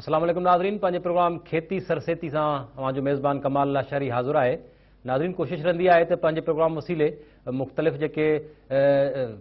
السلام عليڪم ناظرين پنهنجي پروگرام کيتي سرسيتي سان اوهان جو ميزبان ڪمال الله شهري حاضر آهي ناظرين ڪوشش رهندي آهي ته پنهنجي پروگرام وسيلي مختلف جيڪي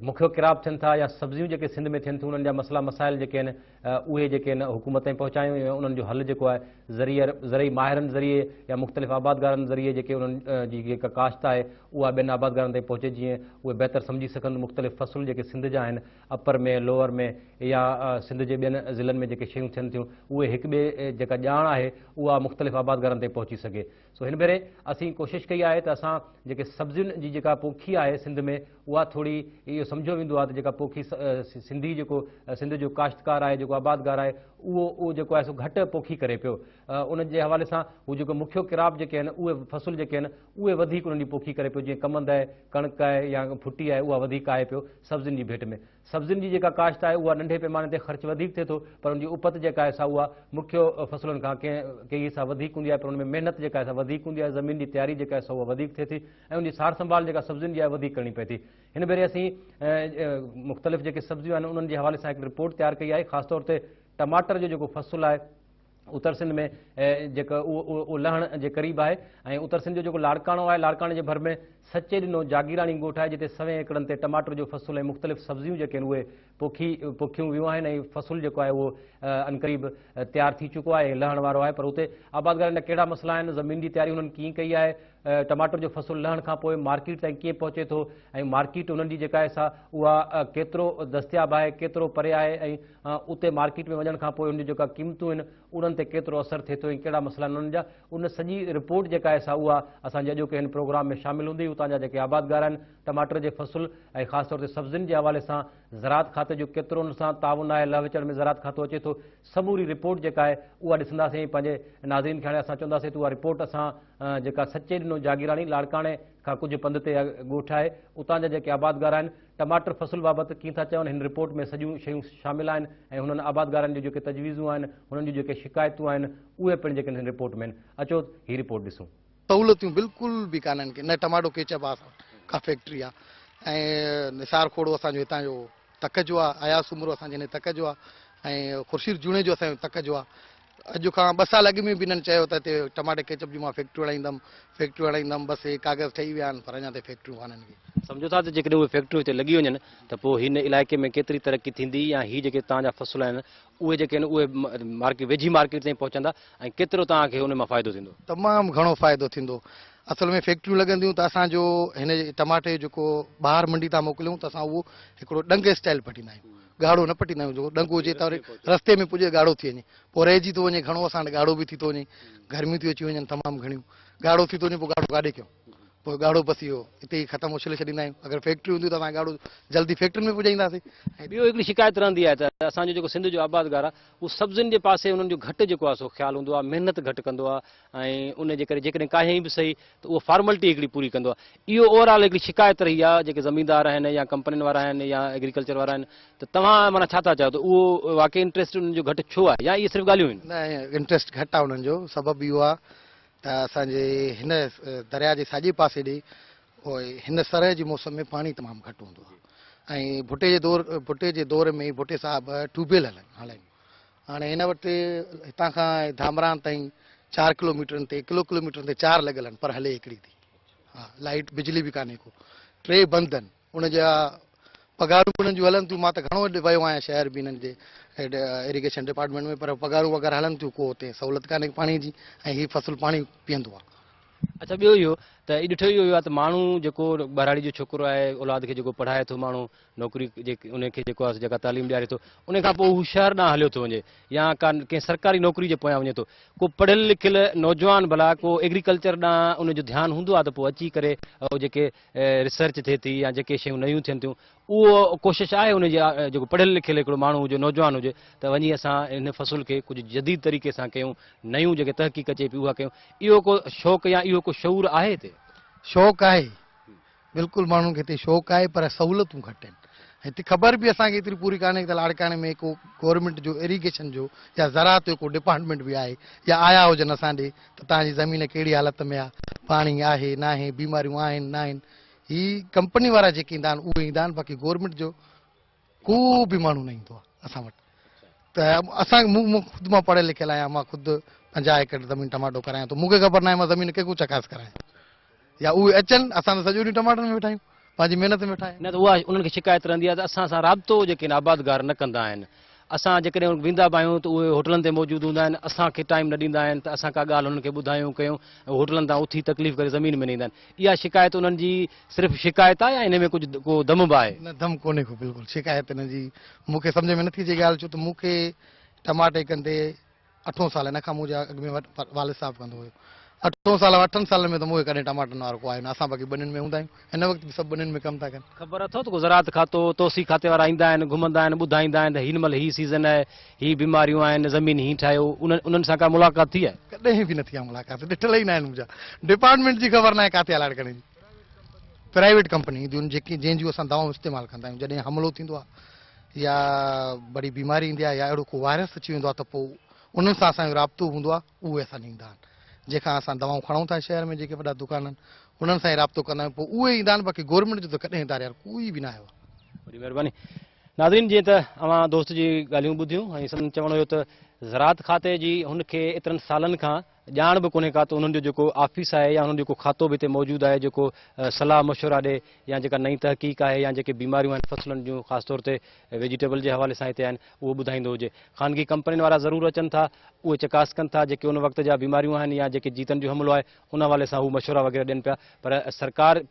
مکيو ڪراب ٿين ٿا يا سبزيون جيڪي سنڌ ۾ ٿين ٿيون انهن جا مسئلا مسائل جيڪي آهن اهي جيڪي ان حڪومت تائين پهچايون ويون انهن جو حل جيڪو آهي ذريعي زرعي ماهرن ذريعي يا مختلف آبادگارن ذريعي جيڪي انهن جي جيڪا ڪاشت آهي اها ٻين آبادگارن تائين پهچي جيئن اهي بهتر سمجهي سگهن مختلف فصل جيڪي سنڌ جا آهن اپر ۾ لوئر ۾ يا سنڌ جي ٻين ضلعن ۾ جيڪي شيون ٿين ٿيون اهي هڪ ٻئي جيڪا ڄاڻ آهي اها مختلف آبادگارن تائين پهچي سگهي سو هن ڀيري اسين ڪوشش ڪئي آهي ته اسان جيڪي سبزين جي جيڪا پوکي آهي سنڌ ۾ اها ٿوري اهو سمجهيو ويندو آهي ته جيڪا پوکي سنڌي جيڪو سنڌ جو ڪاشتڪار آهي جيڪو آبادگار آهي اهو اهو جيڪو آهي سو گهٽ پوکي ڪري پيو ان جي حوالي سان هو جيڪو مکيو ڪراپ جيڪي آهن اهي فصل جيڪي آهن اهي وڌيڪ انهن جي پوکي ڪري پيو جيئن ڪمند آهي ڪڻڪ آهي يا ڦٽي آهي اها وڌيڪ آهي پيو سبزين جي ڀيٽ ۾ سبزين جي جيڪا ڪاشت آهي اها ننڍي پيماني تي خرچ وڌيڪ ٿئي ٿو پر ان جي اپت جيڪا آهي سا اها مکيو فصلن کان ڪنهن ڪئي حصا وڌيڪ هوندي آهي پر ان ۾ محنت جيڪا آهي سا وڌيڪ هوندي آهي زمين جي تياري جيڪا آهي سا اها وڌيڪ ٿئي ٿي ۽ ان جي سار سنڀال جيڪا سبزين جي آهي وڌيڪ ڪرڻي پئي ٿي هن ڀيري اسين مختلف جيڪي سبزيون آهن انهن جي حوالي سان هڪ رپورٽ تيار ڪئي آهي خاص طور تي ٽماٽر جو جيڪو فصل آهي اتر سنڌ ۾ جيڪو اهو لهڻ جي قريب آهي ۽ اتر سنڌ جو جيڪو لاڙڪاڻو آهي لاڙڪاڻي جي ڀر ۾ سچي ڏنو جاگيراڻي ڳوٺ آهي جتي سوين ايڪڙن تي ٽماٽر جو فصل ۽ مختلف سبزيون جيڪي آهن اهي پوکي پوکيون ويون آهن ۽ فصل جيڪو آهي اهو انقريب تيار ٿي چڪو آهي ۽ لهڻ وارو آهي پر اتي آبادگارن جا ڪهڙا مسئلا آهن زمين جي تياري هنن ڪيئن ڪئي آهي ٽماٽر جو فصل لهڻ کان پوء مارڪيٽ تائين ڪيئن پهچي ٿو ۽ مارڪيٽ انهن جي جيڪا سا اها ڪيترو دستياب آهي ڪيترو پري آهي ۽ اتي مارڪيٽ ۾ وڃڻ کان پوء ان جون جيڪا قيمتون آهن انهن تي ڪيترو اثر ٿئي ٿو ۽ ڪهڙا مسئلا انهن جا ان سڄي رپورٽ جيڪا آهي سا اها اسان جي اڄوڪي هن پروگرام ۾ شامل هوندي اتان جا جيڪي آبادگار آهن ٽماٽر جي فصل ۽ خاص طور تي سبزين جي حوالي سان زراعت کاتي جو ڪيترو ان سان تعاون آهي لهه وچڙ ۾ زراعت کاتو اچي ٿو سموري رپورٽ جيڪا آهي اها ڏسنداسين پنهنجي ناظرين کي هاڻي اسان چونداسين ته اها رپورٽ اسان جيڪا سچي ڏنو جاگيراڻي لاڙڪاڻي کان ڪجهه پنڌ تي ڳوٺ آهي اتان جا جيڪي آبادگار آهن ٽماٽر فصل بابت ڪي ٿا چون هن رپورٽ ۾ سڄيون شيون شامل آهن ۽ هنن آبادگارن جون جيڪي تجويزون آهن هنن جون جيڪي شڪايتون آهن اهي پڻ جيڪي هن رپورٽ ۾ آهن اچو هي رپورٽ ڏسون سهولتيون بلڪل به ڪانه آهن نه ٽماٽو ڪيچپ آ ڪا فيڪٽري آ ۽ نثار کوڙو اسان جو هتان جو تڪ جو آ اياز سومرو اسان جي هن تڪ جو آ ۽ خورشيد جوڻيجو اسان جو تڪ جو آ اڄ کان ٻه سال اڳ ۾ به انهن چيو ته هتي ٽماٽي ڪيچپ جون مان فيڪٽريون هڻائيندم، فيڪٽريون هڻائيندم، بس اهي ڪاغذ ٺهي ويا آهن پر اڃا تائين فيڪٽريون ڪانهن ڪي. سمجهو ٿا ته جيڪڏهن اهي فيڪٽريون هتي لڳي وڃن ته پوء هن علائقي ۾ ڪيتري ترقي ٿيندي يا هي جيڪي توهان جا فصل آهن اهي جيڪي آهن اهي مارڪيٽ ويجهي مارڪيٽ تائين پهچندا ۽ ڪيترو توهان کي ان مان فائدو ٿيندو. تمام گهڻو فائدو ٿيندو. اصل ۾ فيڪٽريون لڳنديون ته اسان جو هن ٽماٽي جيڪو ٻاهر منڊي تان موڪليون ته اسان اهو هڪڙو ڏنگ اسٽائيل پٽيندا آهيون. ڳاڙهو نه پٽيندا آهيون جيڪو ڏنگو هجي توري رستي ۾ پڄي ڳاڙهو ٿي وڃي پوء رهجي ٿو وڃي گهڻو اسان وٽ ڳاڙهو به ٿي ٿو وڃي گرميون ٿيون اچي وڃن تمام گهڻيون ڳاڙهو ٿي ٿو وڃي پوء ڳاڙهو ڪاڏي ڪيون پوء ڳاڙهو بس اهو هتي ئي ختم اڇلي ڇڏيندا آهيون اگر فيڪٽريون هونديون ته اسان ڳاڙهو جلدي فيڪٽرين ۾ پڄائينداسين ٻيو هڪڙي شڪايت رهندي آهي ته اسان جو جيڪو سنڌ جو آبادگار آهي اهو سبزين جي پاسي انهن جو گهٽ جيڪو آهي سو خيال هوندو آهي محنت گهٽ ڪندو آهي ۽ ان جي ڪري جيڪڏهن ڪاهيائين به سهي ته اهو فارملٽي هڪڙي پوري ڪندو آهي. اهو اوور آل هڪڙي شڪايت رهي آهي جيڪي زميندار آهن يا ڪمپنين وارا آهن يا ايگريڪلچر وارا آهن ته توهان معنيٰ ڇا ٿا چاهيو ته اهو واقعي انٽريسٽ انهن جو گهٽ ڇو آهي يا اهي صرف ڳالهيون آهن؟ نه انٽريسٽ گهٽ آهي انهن جو سبب اهو آهي ته اسان جي هن درياء جي ساڄي پاسي ڏي هن سرء جي موسم ۾ پاڻي تمام گهٽ هوندو آهي ۽ ڀٽي جي دور ڀٽي جي دور ۾ ڀٽي صاحب ٽيوب ويل هلائيون هاڻي هن وٽ هتان کان ڌامراهن تائين چار ڪلو ميٽرن تي ڪلو ڪلو ميٽرن تي چار لڳل آهن پر هلي هڪڙي ٿي ها لائيٽ بجلي به ڪانهي ڪو ٽي بند آهن ان جا پگهارون به انهن جون هلن ٿيون مان ته گهڻو ويو آهيان شهر به انهن جي ايريگيشن ڊپارٽمينٽ ۾ پر پگهارون وغيره هلن ٿيون ڪو اتي سهولت ڪانهي پاڻي جي ۽ هي فصل پاڻي پيئندو آهي اچھا ٻيو اهو ته ڏٺو اهو آهي ته ماڻهو جيڪو ٻهراڙي جو ڇوڪرو آهي اولاد کي جيڪو پڙهائي ٿو ماڻهو نوڪري انهن کي جيڪو آهي جيڪا تعليم ڏياري ٿو ان کان پوء هو شهر ڏانهن هليو ٿو وڃي يا ڪا ڪنهن سرڪاري نوڪري جي پويان وڃي ٿو ڪو پڙهيل لکيل نوجوان ڀلا ڪو ايگريڪلچر ڏانهن ان جو ڌيان هوندو آهي ته پوء اچي ڪري اهو جيڪي ريسرچ ٿئي ٿي يا جيڪي شيون نيون ٿين ٿيون اهو ڪوشش آهي ان جي جيڪو پڙهيل لکيل هڪڙو ماڻهو هجي نوجوان هجي ته وڃي اسان ان فصل کي ڪجهه جديد طريقي سان ڪيون نيون جيڪي تحقيق اچي پي اها ڪيون اهو ڪو شوق يا اهو ڪو شعور آهي هتي شوق آهي بلڪل ماڻهن کي هتي شوق آهي پر سهولتون گهٽ آهن ۽ هتي خبر به اسان کي ايتري پوري ڪانهي ته لاڙڪاڻي ۾ ڪو گورنمينٽ جو ايريگيشن جو يا زراعت جو ڪو ڊپارٽمينٽ به آهي يا آيا هجن اسان ڏي ته توهان جي زمين ڪهڙي حالت ۾ آهي پاڻي آهي ناهي بيماريون آهن ناهن هي ڪمپني وارا جيڪي ايندا آهن اهي ايندا آهن باقي گورنمينٽ جو ڪو به ماڻهو نه ايندو آهي اسان وٽ ته اسان مون خود مان پڙهيل لکيل آهيان مان خود پنجاهه ايڪڙ زمين ٽماٽو ڪرايان ٿو مونکي خبر ناهي مان زمين ڪنهن کان چڪاس ڪرايان يا اهي اچن اسان ته سڄو ڏينهن ٽماٽن ۾ ويٺا آهيون پنهنجي محنت ۾ ويٺا آهيون نه ته اها انهن کي شڪايت رهندي آهي ته اسان سان رابطو جيڪي آهن آبادگار نه ڪندا آهن اسان جيڪڏهن ويندا به آهيون ته اهي هوٽلن تي موجود هوندا آهن اسان کي ٽائيم نه ڏيندا آهن ته اسان ڪا ڳالهه انهن کي ٻڌايون ڪيون ۽ هوٽلن تان اٿي تڪليف ڪري زمين ۾ نه ايندا آهن اها شڪايت انهن جي صرف شڪايت آهي يا انهي ۾ ڪجهه ڪو دم به آهي؟ نه دم ڪونهي ڪو بلڪل شڪايت انهن جي مون کي سمجهه ۾ نه ٿي اچي ڳالهه ڇو ته مون کي ٽماٽي ڪندي اٺون سال ان کان مون جا اڳ ۾ والد صاحب ڪندو هيو اٺون سال اٺن سالن ۾ ته مون کي ڪڏهن ٽماٽن وارو ڪو آيو نه اسان باقي ٻنين ۾ هوندا آهيون هن وقت به سڀ ٻنين ۾ ڪم ٿا ڪن. خبر اٿئو ته ڪو زراعت کاتو توسيع کاتي وارا ايندا آهن گهمندا آهن ٻڌائيندا آهن ته هن مهل هي سيزن آهي. هي بيماريون آهن زمين هين ٺاهيو انهن انهن سان ڪا ملاقات ٿي آهي. ڪڏهن به نه ٿي آهي ملاقات ڏٺل ئي ناهن منهنجا ڊپارٽمينٽ جي خبر ناهي ڪاٿي الاٽ ڪرڻ جي پرائيويٽ ڪمپني اينديون آهن جيڪي جنهن جون اسان دوائون استعمال ڪندا آهيون جڏهن حملو ٿيندو آهي يا بڙي بيماري ايندي آهي يا اهڙو ڪو وائرس اچي ويندو آهي ته پوء انهن سان اسان جو رابطو هوندو آهي اهي اسان ڏيندا آهن جنهن کان اسان دوائون کڻون ٿا شهر ۾ جيڪي وڏا دڪان آهن انهن سان ئي رابطو ڪندا آهيون پوء اهي ايندا آهن باقي گورنمينٽ جو ته ڪڏهن هتاريار ڪوئي به نه آيو آهي. وڏي مهرباني. ناظرين جيئن ته اوهان دوست جي ڳالهيون ٻڌيون ۽ سندن چوڻ هيو ته زراعت کاتي جي هن کي ايترن سالن کان ڄاڻ به ڪونهي ڪا ته انهن جو جيڪو آفيس آهي يا انهن جو جيڪو کاتو به هتي موجود آهي جيڪو صلاح مشورا ڏي يا جيڪا نئين تحقيق آهي يا جيڪي بيماريون آهن فصلن جون خاص طور تي ويجيٽيبل جي حوالي سان هتي آهن اهو ٻڌائيندو هجي خانگي ڪمپنين وارا ضرور اچن ٿا اهي چڪاس ڪن ٿا جيڪي ان وقت جا بيماريون آهن يا جيڪي جيتن جو حملو آهي ان حوالي سان هو مشورا وغيره ڏين پيا پر سرڪار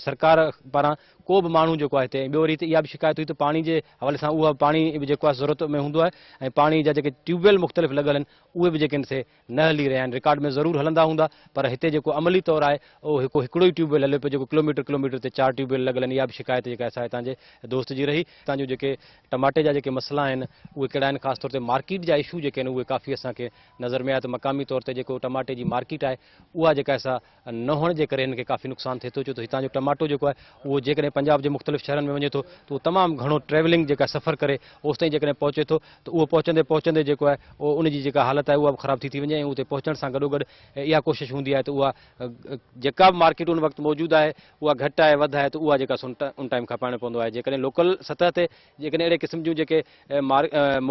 سرڪار پاران ڪو به ماڻهو جيڪو آهي هتي ۽ ٻيو وري هتي اها به شڪايت هئي ته پاڻي جي حوالي سان اهو پاڻي به جيڪو آهي ضرورت ۾ هوندو آهي ۽ پاڻي جا جيڪي ٽيوب ويل مختلف لڳل آهن اهي به جيڪي آهن سي نه هلي رهيا آهن رڪارڊ ۾ ضرور هلندا هوندا پر هتي جيڪو عملي طور آهي اهو هڪو هڪڙو ئي ٽيوب ويل هلي پيو جيڪو ڪلوميٽر ڪلوميٽر تي چار ٽيوب ويل لڳل آهن اها به شڪايت جيڪا سا هتان جي دوست جي رهي هتان جو جيڪي ٽماٽي جا جيڪي مسئلا آهن اهي ڪهڙا آهن خاص طور تي مارڪيٽ جا اشو جيڪي آهن اهي ڪافي اسان کي نظر ۾ آيا ته مقامي طور تي جيڪو ٽماٽي جي مارڪيٽ آهي اها جيڪا سا نه هئڻ جي ڪري هنن کي ڪافي نقصان ٿئي ٿو ڇو ته هتان جو ٽماٽو جيڪو آهي اهو جيڪڏهن پنجاب جي مختلف شهرن ۾ وڃي ٿو ته اهو تمام گهڻو ٽريولنگ جيڪا سفر ڪري اوستائين جيڪڏهن پهچي ٿو ته اهو پهچندي پهچندي جيڪو آهي اهو ان جي جيڪا حالت آهي اها به خراب ٿي ٿي وڃي ۽ اتي پهچڻ سان گڏو گڏ اها ڪوشش هوندي آهي ته اها جيڪا به مارڪيٽ ان وقت موجود آهي اها گهٽ آهي وڌ آهي ته اها جيڪا سو ان ٽائيم کپائڻو پوندو آهي جيڪڏهن لوڪل سطح تي جيڪڏهن اهڙي قسم جون جيڪي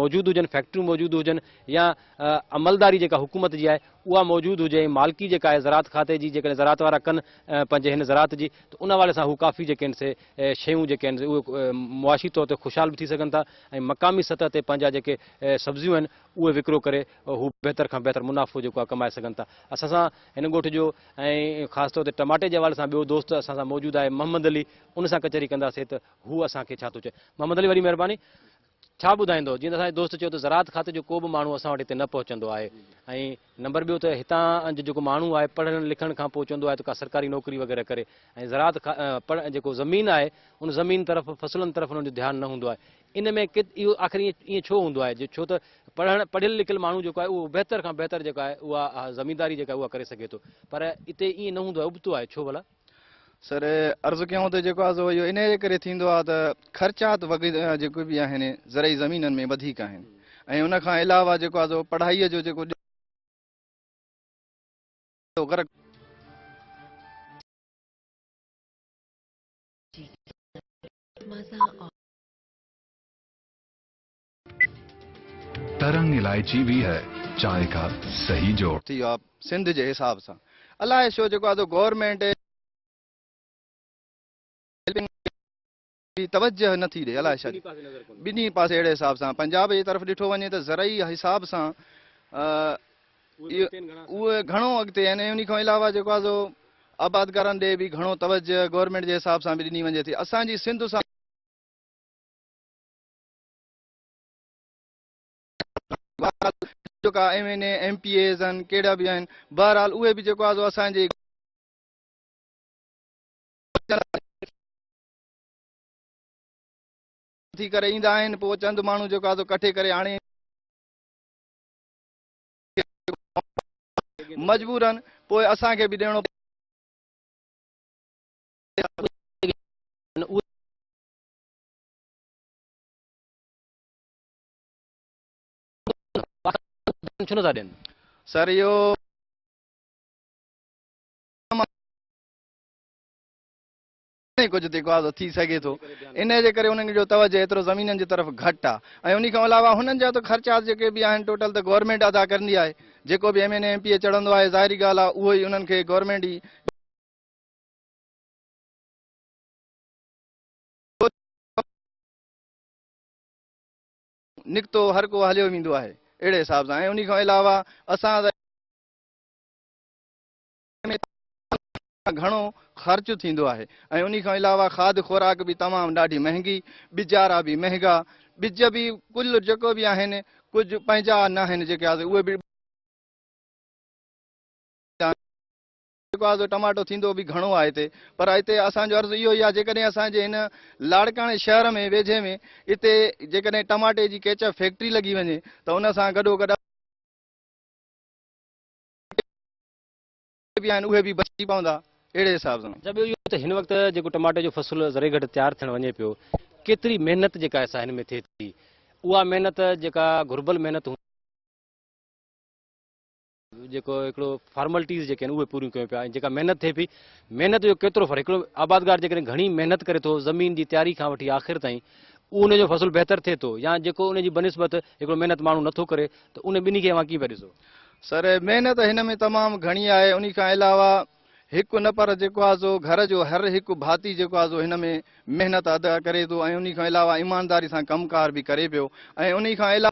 موجود هجن فيڪٽريون موجود هجن يا عملداري جيڪا حڪومت جي آهي اها موجود هجي ۽ مالڪي جيڪا آهي زراعت کاتي جي جيڪڏهن زراعت وارا ڪن پنهنجي هن زراعت جي ته ان حوالي سان هو ڪافي جيڪي آهن سي شيون جيڪي آهن اهي معاشي طور تي خوشحال به ٿي سگهن ٿا ۽ مقامي سطح تي پنهنجا جيڪي سبزيون آهن اهي وڪرو ڪري هو بهتر کان بهتر منافعو جيڪو آهي ڪمائي سگهن ٿا اسان سان هن ڳوٺ جو ۽ خاص طور تي ٽماٽي جي حوالي سان ٻيو دوست اسان سان موجود آهي محمد علي ان سان ڪچهري ڪنداسين ته هو اسان کي ڇا ٿو چئي محمد علي وڏي مهرباني. ڇا ٻڌائيندؤ؟ جيئن ته اسان جي دوست چيو ته زراعت کاتي جو ڪو به ماڻهو اسان وٽ هتي نه پهچندو آهي ۽ نمبر ٻيو ته هتان جو جيڪو ماڻهو آهي پڙهڻ لکڻ کان پوء چوندو آهي ته ڪا سرڪاري نوڪري وغيره ڪري ۽ زراعت کان جيڪو زمين آهي ان زمين طرف فصلن طرف انهن جو ڌيان نه هوندو آهي ان ۾ ڪيت اهو آخر ائين ڇو هوندو آهي ڇو ته پڙهڻ پڙهيل لکيل ماڻهو جيڪو آهي اهو بهتر کان بهتر جيڪا آهي اها زمينداري جيڪا اها ڪري سگهي ٿو پر اتي ائين نه هوندو آهي ابتو آهي ڇو ڀلا؟ سر عرض ڪيائون ته جيڪو آزو اهو انهيء جي ڪري ٿيندو آهي ته خرچات وغيره جيڪي به آهن زرعي زمينن ۾ وڌيڪ آهن ۽ ان کان علاوه جيڪو آزو پڙهائي جو جيڪو غرق مزا ترنگ الائچي بي هي چائي ڪا سهي جوڙ. ٿي ويو آ سنڌ جي حساب سان الاء ڇو جيڪو آ سو گورمينٽ توجه نه ٿي ڏي الاء ڇا جي ٻنهي پاسي اهڙي حساب سان پنجاب جي طرف ڏٺو وڃي ته زرعي حساب سان اهي گهڻو اڳتي آهن ۽ انهي کان علاوه جيڪو آ سو آبادگارن ڏي به گهڻو توجه گورمينٽ جي حساب سان به ڏني وڃي ٿي اسان جي سنڌ سان بهرحال جيڪا M N A M P As آهن ڪهڙا به آهن بهرحال اهي به جيڪو آزو اسان جي ٿي ڪري ايندا آهن پوء چند ماڻهو جيڪو آزو ڪٺي ڪري آڻي مجبورن پوء اسان کي به ڏيڻو ڇو نٿا ڏين سر اهو ڪجهه جيڪو آزو ٿي سگهي ٿو ان جي ڪري انهن جو توجه ايترو زمينن جي طرف گهٽ آ ۽ انهي کان علاوه هنن جا ته خرچات جيڪي به آهن ٽوٽل ته گورنمنٽ ادا ڪرندي آهي جيڪو به M N M P A چڙهندو آهي ظاهري ڳالهه آ اهو ئي انهن کي گورنمنٽ ئي نڪتو هر ڪو هليو ويندو آهي اهڙي حساب سان ۽ انهي کان علاوه اسان گهڻو خرچ ٿيندو آهي ۽ انهي کان علاوه کاڌ خوراڪ به تمام ڏاڍي مهنگي بجارا به مهنگا ٻج به ڪل جيڪو به آهن ڪجهه پنهنجا ناهن جيڪي اهي به جيڪو آزو ٽماٽو ٿيندو به گهڻو آهي هتي پر هتي اسان جو عرض اهو ئي آهي جيڪڏهن اسان جي هن لاڙڪاڻي شهر ۾ ويجهي ۾ اتي جيڪڏهن ٽماٽي جي ڪيچپ فيڪٽري لڳي وڃي ته ان سان گڏو گڏ به آهن اهي به بچي پوندا اهڙي حساب سان. اچا ٻيو اهو ته هن وقت جيڪو ٽماٽي جو فصل ذري گهٽ تيار ٿيڻ وڃي پيو ڪيتري محنت جيڪا سا هن ۾ ٿئي ٿي اها محنت جيڪا گهربل محنت هوندي جيڪو هڪڙو فارملٽيز جيڪي آهن اهي پوريون ڪيون پيا ۽ جيڪا محنت ٿئي پئي محنت جو ڪيترو فرق هڪڙو آبادگار جيڪڏهن گهڻي محنت ڪري ٿو زمين جي تياري کان وٺي آخر تائين اهو ان جو فصل بهتر ٿئي ٿو يا جيڪو ان جي بنسبت هڪڙو محنت ماڻهو نٿو ڪري ته ان ٻنهي کي اوهان ڪيئن پيا ڏسو سر محنت هن ۾ تمام گهڻي آهي ان کان علاوه هڪ نه پر جيڪو آهي سو گهر جو هر هڪ ڀاتي جيڪو آهي سو هن ۾ محنت ادا ڪري ٿو ۽ ان کان علاوه ايمانداري سان ڪم ڪار به ڪري پيو ۽ ان کان علاوه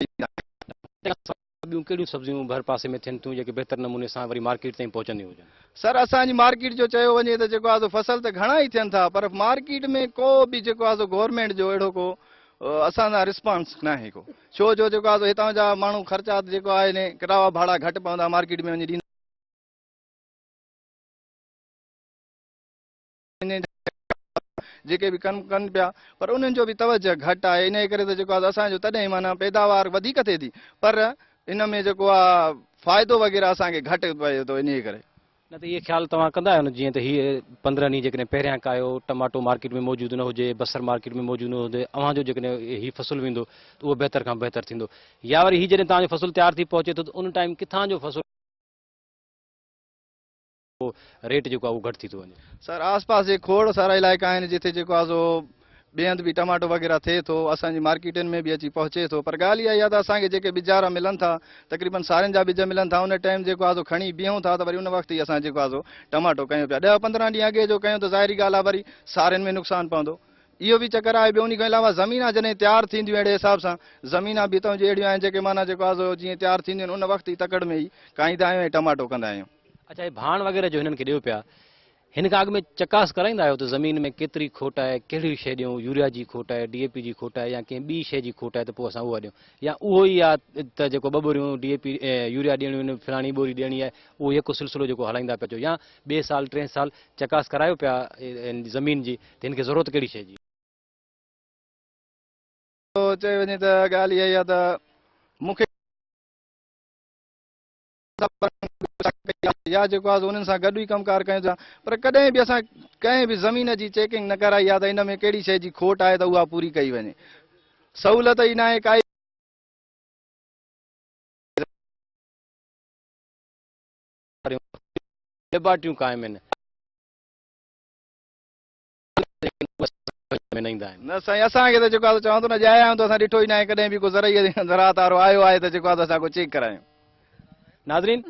ڏيندا آهن. تنهن کان سواء ٻيون ڪهڙيون سبزيون ڀرپاسي ۾ ٿين ٿيون جيڪي بهتر نموني سان وري مارڪيٽ تائين پهچنديون هجن؟ سر اسان جي مارڪيٽ جو چيو وڃي ته جيڪو آهي سو فصل ته گهڻا ئي ٿين ٿا پر مارڪيٽ ۾ ڪو به جيڪو آهي سو گورنمينٽ جو اهڙو ڪو اسان سان رسپانس ناهي ڪو ڇو جو جيڪو آهي سو هتان جا ماڻهو خرچات جيڪو آهي ني ڪراوا ڀاڙا گهٽ پوندا مارڪيٽ ۾ وڃي ڏيندا وڃين ٿا جيڪي به ڪم ڪن پيا پر انهن جو به توجه گهٽ آهي انهي ڪري ته جيڪو اسان جو تڏهن معنيٰ پيداوار وڌيڪ ٿئي ٿي پر ان ۾ جيڪو آ فائدو وغيره اسان کي گهٽ پئي ٿو انهي ڪري. نه ته اهي خيال توهان ڪندا آهيو نه جيئن ته هي پندرهن ڏينهن جيڪڏهن پهريان ڪايو ٽماٽو مارڪيٽ ۾ موجود نه هجي بصر مارڪيٽ ۾ موجود نه هجي اوهان جو جيڪڏهن هي فصل ويندو ته اهو بهتر کان بهتر ٿيندو يا وري هي جڏهن توهان جو فصل تيار ٿي پهچي ٿو ته ان ٽائيم ڪٿان جو فصل پوء ريٽ جيڪو آهي اهو گهٽ ٿي ٿو وڃي. سر آس پاس جي کوڙ سارا علائقا آهن جتي جيڪو آهي سو ٻئي هنڌ به ٽماٽو وغيره ٿئي ٿو اسان جي مارڪيٽن ۾ به اچي پهچي ٿو پر ڳالهه اها ئي آهي ته اسان کي جيڪي ٻجارا ملن ٿا تقريبن سارين جا ٻج ملن ٿا ان ٽائيم جيڪو آهي سو کڻي بيهون ٿا ته وري ان وقت ئي اسان جيڪو آهي سو ٽماٽو ڪيون پيا ڏهه پندرهن ڏينهن اڳي جو ڪيون ته ظاهري ڳالهه آهي وري سارين ۾ نقصان پوندو اهو به چڪر آهي ٻيو ان کان علاوه زمينا جڏهن تيار ٿينديون اهڙي حساب سان زمينا به هتان جون اهڙيون آهن جيڪي معنيٰ جيڪو آهي سو جيئن تيار ٿينديون آهن ان وقت ئي تڪڙ ۾ ئي کائيندا آهيون ۽ ٽماٽو ڪندا آهيون. اچا هي ڀاڻ وغيره جو هنن کي ڏيو پيا هن کان اڳ ۾ چڪاس ڪرائيندا آهيو ته زمين ۾ ڪيتري کوٽ آهي ڪهڙي شي ڏيون يوريا جي کوٽ آهي ڊي اي پي جي کوٽ آهي يا ڪنهن ٻي شي جي کوٽ آهي ته پوء اسان اها ڏيون يا اهو ئي آهي ته جيڪو ٻه ٻوريون ڊي اي پي يوريا ڏيڻيون آهن فلاڻي ٻوري ڏيڻي آهي اهو يڪو سلسلو جيڪو هلائيندا پيا اچو يا ٻئي سال ٽئين سال چڪاس ڪرايو پيا زمين جي ته هن کي ضرورت ڪهڙي شي جي چئي وڃي ته ڳالهه اها ئي آهي ته مون کي يا جيڪو آهي انهن سان گڏ ئي ڪم ڪار ڪيون ٿا پر ڪڏهن به اسان ڪنهن به زمين جي چيڪنگ نه ڪرائي آهي ته ان ۾ ڪهڙي شيء جي کوٽ آهي ته اها پوري ڪئي وڃي سهولت ئي ناهي ڪائي ليبارٽريون قائم آهن نه سائين اسان کي ته جيڪو آهي چوان ٿو نه ڄايا آهيون ته اسان ڏٺو ئي ناهي ڪڏهن به ڪو زرعي زراعت وارو آيو آهي ته جيڪو آهي اسان ڪو چيڪ ڪرايون. ناظرين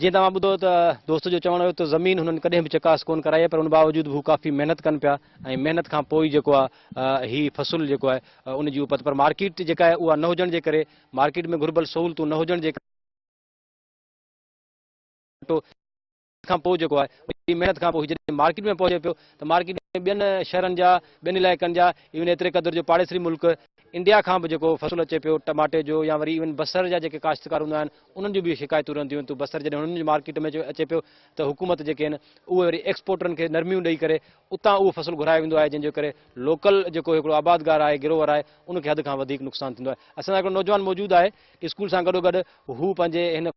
جيئن توهان ٻڌو ته دوست جو چوڻ هيو ته زمين هنن ڪڏهن به چڪاس ڪون ڪرائي آهي پر ان باوجود به هو ڪافي محنت ڪن پيا ۽ محنت کان پوء ئي جيڪو آهي هي فصل جيڪو آهي ان جي اپت پر مارڪيٽ جيڪا آهي اها نه هجڻ جي ڪري مارڪيٽ ۾ گهربل سهولتون نه هجڻ جي ڪري محنت کان پوء جيڪو آهي وڏي محنت کان پوء هي جڏهن مارڪيٽ ۾ پهچي پيو ته مارڪيٽ ۾ ٻين شهرن جا ٻين علائقن جا ايون ايتري قدر جو پاڙيسري ملڪ انڊيا کان به جيڪو فصل اچي پيو ٽماٽي جو يا وري ايون بصر جا جيڪي ڪاشتڪار هوندا آهن انهن جون به شڪايتون رهنديون آهن تو بصر جڏهن هنن جي مارڪيٽ ۾ اچي پيو ته حڪومت جيڪي آهن اهي وري ايڪسپورٽرن کي نرميون ڏئي ڪري اتان اهو فصل گهرايو ويندو آهي جنهن جي ڪري لوڪل جيڪو هڪڙو آبادگار آهي گروور آهي ان کي حد کان وڌيڪ نقصان ٿيندو آهي اسان سان هڪڙو نوجوان موجود آهي اسڪول سان گڏو گڏ هو پنهنجي هن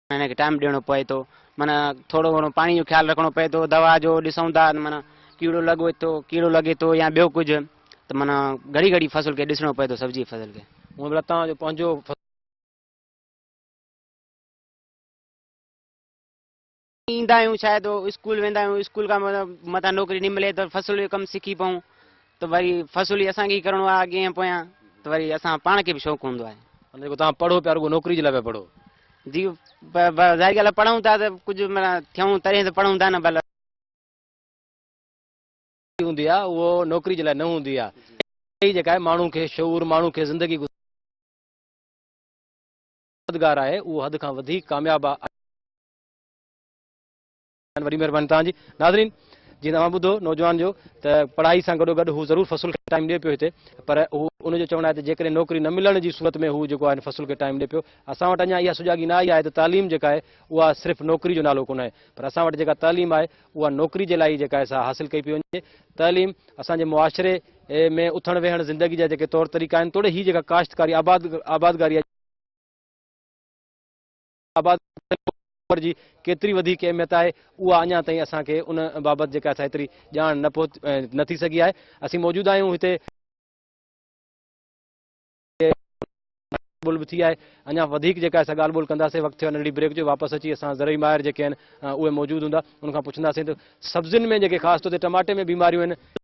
هن کي ٽائيم ڏيڻو پوي ٿو معنيٰ ٿورو گهڻو پاڻي جو خيال رکڻو پوي ٿو دوا جو ڏسون ٿا معنيٰ ڪيڙو لڳو ٿو ڪيڙو لڳي ٿو يا ٻيو ڪجهه ته معنيٰ گهڙي گهڙي فصل کي ڏسڻو پوي ٿو سبزي فصل کي هونء به لتان جو پنهنجو ايندا آهيون شايد اسڪول ويندا آهيون اسڪول کان مطلب متان نوڪري نه ملي ته فصل جو ڪم سکي پئون ته وري فصل ئي اسان کي ئي ڪرڻو آهي اڳين ۽ پويان ته وري اسان پاڻ کي به شوق هوندو آهي. معنيٰ جيڪو توهان پڙهو پيا رڳو نوڪري جي لاء پيا پڙهو. جي ظاهري ڳالهه آهي پڙهون ٿا ته ڪجهه معنيٰ ٿيون تڏهن ته پڙهون ٿا نه ڀل. هوندي آهي اهو نوڪري جي لاء نه هوندي آهي اها ئي جيڪا آهي ماڻهو کي شعور ماڻهو کي زندگي گذارڻ جو مددگار آهي اهو حد کان وڌيڪ ڪامياب آهي. وڏي مھرباني توھان جي. ناظرين جيئن اوھان ٻڌو نوجوان جو ته پڙھائي سان گڏوگڏ ھو ضرور فصل کي ٽائيم ڏئي پيو ھتي پر ھو ان جو چوڻ آھي ته جيڪڏھن نوڪري نه ملڻ جي صورت ۾ ھو جيڪو آھي فصل کي ٽائيم ڏئي پيو اسان وٽ اڃان اھا سجاڳي نه آئي آھي ته تعليم جيڪا آھي اھا صرف نوڪري جو نالو ڪونھي پر اسان وٽ جيڪا تعليم آھي اھا نوڪري جي لاء ئي جيڪا آھي سا حاصل ڪئي پئي وڃي تعليم اسان جي معاشري ۾ اٿڻ ويھڻ زندگي جا جيڪي طور طريقا آھن توڙي ھي جيڪا ڪاشتڪاري آباد آبادگاري آباد دور جي ڪيتري وڌيڪ اهميت آهي، اها اڃا تائين اسان کي ان بابت جيڪا آهي سا ايتري ڄاڻ نه پهت نه ٿي سگهي آهي. اسين موجود آهيون هتي. ڳالهه ٻولهه به ٿي آهي. اڃا وڌيڪ جيڪا آهي سا ڳالهه ٻولهه ڪنداسين. وقت ٿيو آهي ننڍڙي بريڪ جو. واپس اچي اسان زرعي ماهر جيڪي آهن اهي موجود هوندا. انهن کان پڇنداسين ته سبزين ۾ جيڪي خاص طور تي ٽماٽي ۾ بيماريون آهن.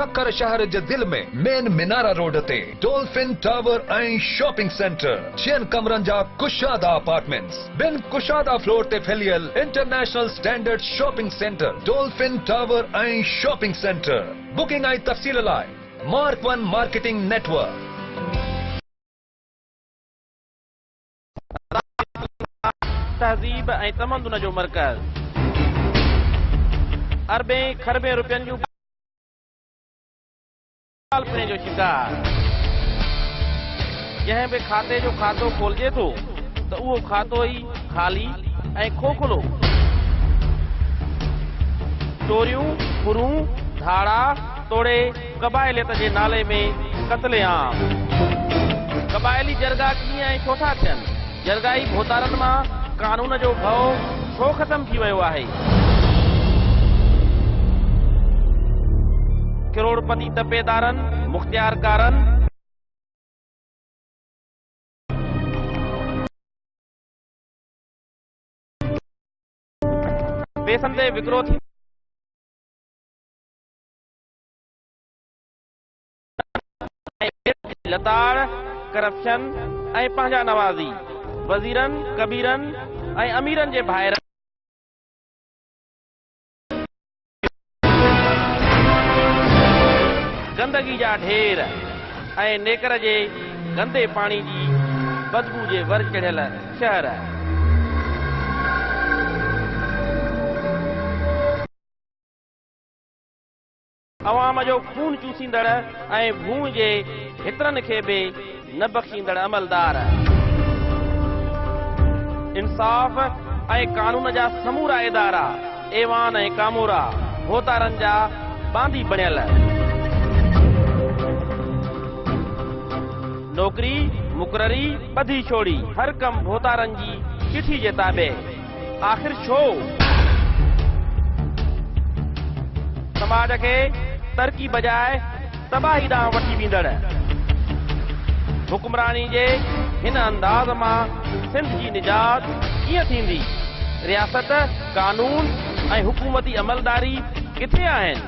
سکر شهر جي دل ۾ مين مينارا روڊ تي ڊولفن ٽاور ۽ شاپنگ سينٽر، ڇهن ڪمرن جا ڪشادا اپارٽمينٽس، ٻن ڪشادا فلور تي ڦهليل international standard shopping centre Dolphin tower ۽ shopping centre, booking ۽ تفصيل لاء mark one marketing network. تهذيب ۽ تمدن جو مرڪز اربين کربين روپين جون ڪالپني جو شڪار جنهن به کاتي جو کاتو کولجي ٿو ته اهو کاتو ئي خالي ۽ کوکلو چوريون ڦرون ڌاڙا توڙي قبائليت جي نالي ۾ قتل عام. قبائلي جرڳا ڪيئن ۽ ڇو ٿا ٿين؟ جرڳائي ڀوتارن مان قانون جو ڀؤ ڇو ختم ٿي ويو آهي؟ ڪروڙپتي تپيدارن، مختيارڪارن. پيسن تي وڪرو ٿي. ۽ لتاڙ، ڪرپشن ۽ پنهنجا نوازي، وزيرن، ڪبيرن ۽ اميرن جي ڀائرن. گندگي جا ڍير ۽ نيڪر جي گندي پاڻي جي بدبو جي ور چڙهيل شهر. عوام جو خون چوسيندڙ ۽ ڀونء جي ڀترن کي به نه بخشيندڙ عملدار، انصاف ۽ قانون جا سمورا ادارا، ايوان ۽ ڪامورا، ڀوتارن جا باندي بڻيل، نوڪري، مقرري، ٻڌي ڇوڙي، هر ڪم ڀوتارن جي چٺي جي تابع. آخر ڇو؟ سماج کي ترقي بجاء تباهي ڏانهن وٺي ويندڙ حڪمراني جي هن انداز مان سنڌ جي نجات ڪيئن ٿيندي؟ رياست، قانون ۽ حڪومتي عملداري ڪٿي آهن؟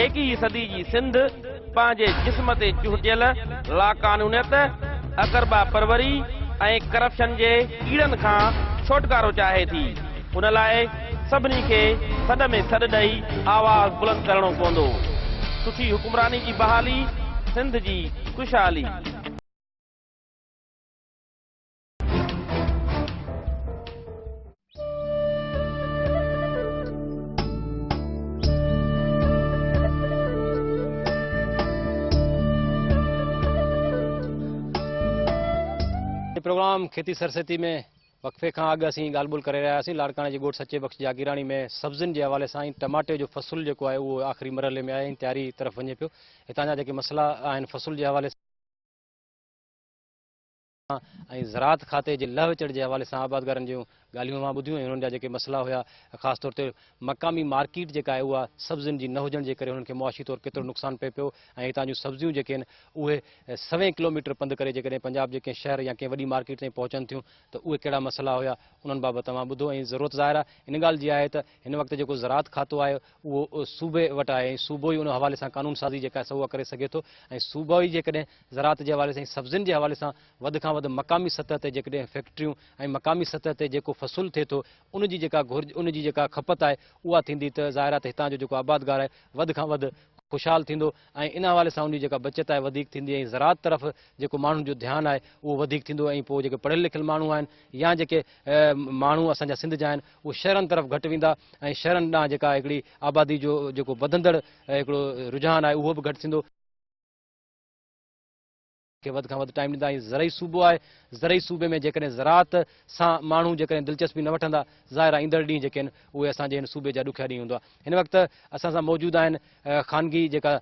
ايڪيهين صدي جي سنڌ پنهنجي جسم تي چهٽيل لاقانونيت، اقربا پروري ۽ ڪرپشن جي ڪيڙن کان ڇوٽڪارو چاهي ٿي، ان لاء سڀني کي سڏ ۾ سڏ ڏئي آواز بلند ڪرڻو پوندو. سٺي حڪمراني جي بحالي، سنڌ جي خوشحالي. پروگرام کيتي سرسيتي ۾ وقفي کان اڳ اسين ڳالهه ٻولهه ڪري رهياسين لاڙڪاڻي جي ڳوٺ سچي بخش جاگيراڻي ۾ سبزين جي حوالي سان ٽماٽي جو فصل جيڪو آهي اهو آخري مرحلي ۾ آهي تياري طرف وڃي پيو هتان جا جيڪي مسئلا آهن فصل جي حوالي سان ۽ زراعت کاتي جي لهه چڙهه جي حوالي سان آبادگارن جون ڳالهيون اوهان ٻڌيون ۽ انهن جا جيڪي مسئلا هيا خاص طور تي مقامي مارڪيٽ جيڪا آهي اها سبزين جي نه هجڻ جي ڪري انهن کي معاشي طور ڪيترو نقصان پئي پيو ۽ هتان جون سبزيون جيڪي آهن اهي سوين ڪلوميٽر پنڌ ڪري جيڪڏهن پنجاب جي ڪنهن شهر يا ڪنهن وڏي مارڪيٽ تائين پهچن ٿيون ته اهي ڪهڙا مسئلا هيا انهن بابت اوهان ٻڌو ۽ ضرورت ظاهر آهي ان ڳالهه جي آهي ته هن وقت جيڪو زراعت کاتو آهي اهو صوبي وٽ آهي ۽ صوبو ئي ان حوالي سان قانون سازي جيڪا آهي سا اها ڪري سگهي ٿو ۽ صوبو ئي جيڪڏهن زراعت جي حوالي سان ۽ سبزين جي حوالي سان وڌ کان وڌ مقامي سطح تي جيڪڏهن فيڪٽريون ۽ مقامي سطح تي جيڪو فصل ٿئي ٿو ان جي جيڪا گهرج ان جي جيڪا کپت آهي اها ٿيندي ته ظاهر آهي ته هتان جو جيڪو آبادگار آهي وڌ کان وڌ خوشحال ٿيندو ۽ ان حوالي سان ان جي جيڪا بچت آهي وڌيڪ ٿيندي ۽ زراعت طرف جيڪو ماڻهن جو ڌيان آهي اهو وڌيڪ ٿيندو ۽ پوء جيڪي پڙهيل لکيل ماڻهو آهن يا جيڪي ماڻهو اسان جا سنڌ جا آهن اهي شهرن طرف گهٽ ويندا ۽ شهرن ڏانهن جيڪا هڪڙي آبادي جو جيڪو وڌندڙ هڪڙو رجحان آهي اهو به گهٽ ٿيندو. کي وڌ کان وڌ ٽائيم ڏيندا ۽ زرعي صوبو آهي زرعي صوبي ۾ جيڪڏهن زراعت سان ماڻهو جيڪڏهن دلچسپي نه وٺندا ظاهر آهي ايندڙ ڏينهن جيڪي آهن اهي اسان جي هن صوبي جا ڏکيا ڏينهن هوندا هن وقت اسان سان موجود آهن خانگي جيڪا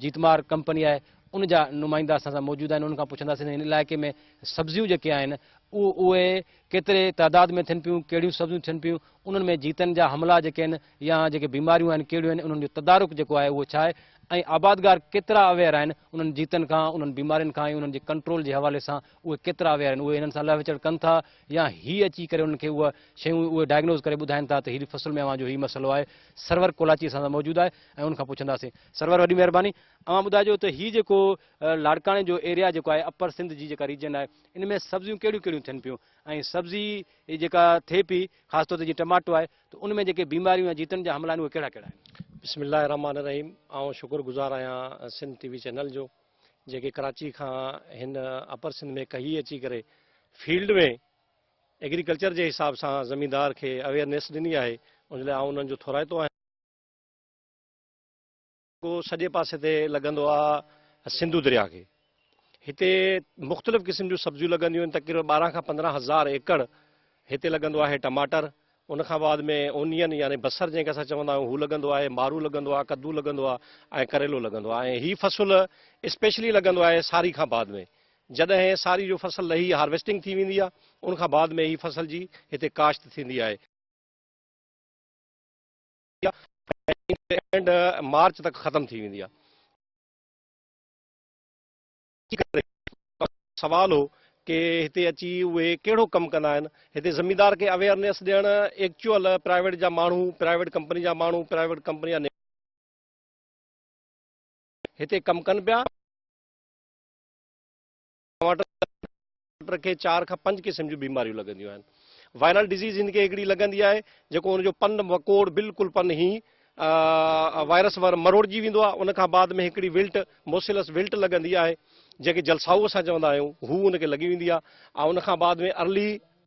جيتمار ڪمپني آهي ان جا نمائندا اسان سان موجود آهن انهن کان پڇنداسين هن علائقي ۾ سبزيون جيڪي آهن اهي ڪيتري تعداد ۾ ٿين پيون ڪهڙيون سبزيون ٿين پيون انهن ۾ جيتن جا حملا جيڪي آهن يا جيڪي بيماريون آهن ڪهڙيون آهن انهن جو تدارڪ جيڪو آهي اهو ڇا آهي ۽ آبادگار ڪيترا اويئر آهن انهن جيتن کان انهن بيمارين کان ۽ انهن جي ڪنٽرول جي حوالي سان اهي ڪيترا اويئر آهن اهي انهن سان لهه وچڙ ڪن ٿا يا هي اچي ڪري انهن کي اهي شيون اهي ڊائگنوز ڪري ٻڌائين ٿا ته هيڏي فصل ۾ اوهان جو هي مسئلو آهي سرور ڪولاچي اسان سان موجود آهي ۽ ان کان پڇنداسين سرور وڏي مهرباني اوهان ٻڌائجو ته هي جيڪو لاڙڪاڻي جو ايريا جيڪو آهي اپر سنڌ جي جيڪا ريجن آهي ان ۾ سبزيون ڪهڙيون ڪهڙيون ٿين پيون ۽ سبزي جيڪا ٿئي پي خاص طور تي جيئن ٽماٽو آهي ته ان ۾ جيڪي بيماريون يا جيتن جا حملا آهن اهي ڪهڙا ڪهڙا آهن؟ بسم الله الرحمٰن الرحيم آئون شڪر گذار آهيان سنڌ ٽي وي چينل جو جيڪي ڪراچي کان هن اپر سنڌ ۾ ڪهي اچي ڪري فيلڊ ۾ ايگريڪلچر جي حساب سان زميندار کي اويئرنيس ڏني آهي ان لاء آئون انهن جو ٿورائتو آهيان. ڪو سڄي پاسي تي لڳندو آ سنڌو درياء کي. هتي مختلف قسم جون سبزيون لڳنديون آهن، تقريبن ٻارهن کان پندرهن هزار ايڪڙ هتي لڳندو آهي ٽماٽر، ان کان بعد ۾ اونين يعني بصر جنهن کي اسان چوندا آهيون هو لڳندو آهي، مارو لڳندو آ، ڪدو لڳندو آ ۽ ڪريلو لڳندو آ ۽ هي فصل اسپيشلي لڳندو آهي ساري کان بعد ۾ جڏهن ساري جو فصل لهي هارويسٽنگ ٿي ويندي آ ان کان بعد ۾ هي فصل جي هتي ڪاشت ٿيندي آهي. ٿيندي آهي ۽ جون جي اينڊ مارچ تڪ ختم ٿي ويندي آهي. ان ڪري سوال هو ڪي هتي اچي اهي ڪهڙو ڪم ڪندا آهن. هتي زميندار کي اويئرنيس ڏيڻ ايڪچوئل پرائيويٽ جا ماڻهو پرائيويٽ ڪمپني جا ماڻهو پرائيويٽ ڪمپني جا هتي ڪم ڪن پيا. ٽماٽر کي چار کان پنج قسم جون بيماريون لڳنديون آهن وائرل ڊزيز هن کي هڪڙي لڳندي آهي جيڪو ان جو پن وڪوڙ بلڪل پن هي وائرس ور مروڙجي ويندو آهي ان کان بعد ۾ هڪڙي ولٽ موسيلس ولٽ لڳندي آهي جيڪي جلسائو اسان چوندا آهيون هو ان کي لڳي ويندي آهي ۽ ان کان بعد ۾ ارلي